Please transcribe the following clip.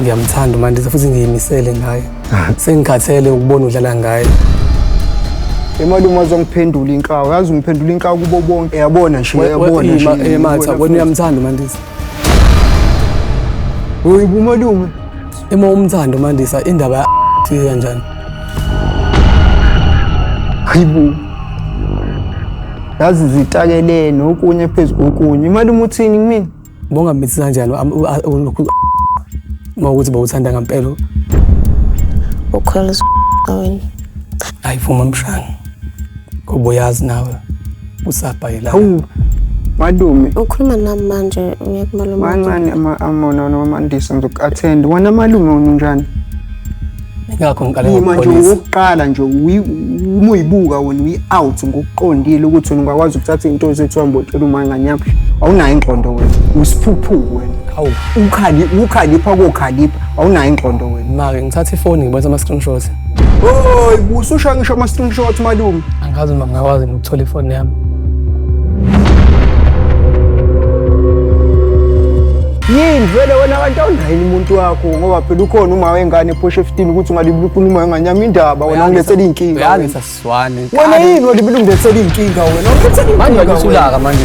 ngiyamthanda uMandisa futhi ngiyimisele ngaye sengikhathele ukubona udlala ngaye imali uma zongiphendula inkawu yazi ungiphendula inkawu kubo bonke yabona nje yabona nje ematha wena uyamthanda uMandisa uyibumalume uma umthanda uMandisa indaba fika kanjani hayibo yazi zitakelene okunye phezu kokunye imali umuthini kumina Bongambithi kanjani ulokhu uma ukuthi bawuthanda ngempela. Ukhola wena. Hayi vuma mshana. Ngoba uyazi nawe usabhayela. Hawu madume ukhuluma nami manje uyakumalume mancane amona noma mandisa ngizoku-attend wena malume unjani ingakho ngiqale Yima nje ngokuqondisa ukuqala nje uyi- uma uyibuka wena uyi-out ngokuqondile ukuthi wena ungakwazi ukuthatha into ezethiwa mbotshela umanganyama awunayo ingqondo wena usiphuphuku wena Hawu. Ukhali- ukhalipha kokhalipha awunayo ingqondo wena make ngithatha ifoni ngibonisa ama-screenshot Oh, ususha ngisho ama-screenshot malume angazi noma ngingakwazi thola ifoni yami yini vele wena kanti awunayo umuntu wakho ngoba phela ukhona uma wengane ephosha efitini ukuthi ungalibula ukhuluma wengane yami indaba wena ungilethela iy'nkinga Uyazi saswane. wena yini walibula ungilethela iy'nkinga wena ungilethela Manje iy'nkinga wena. wakusulaka manje.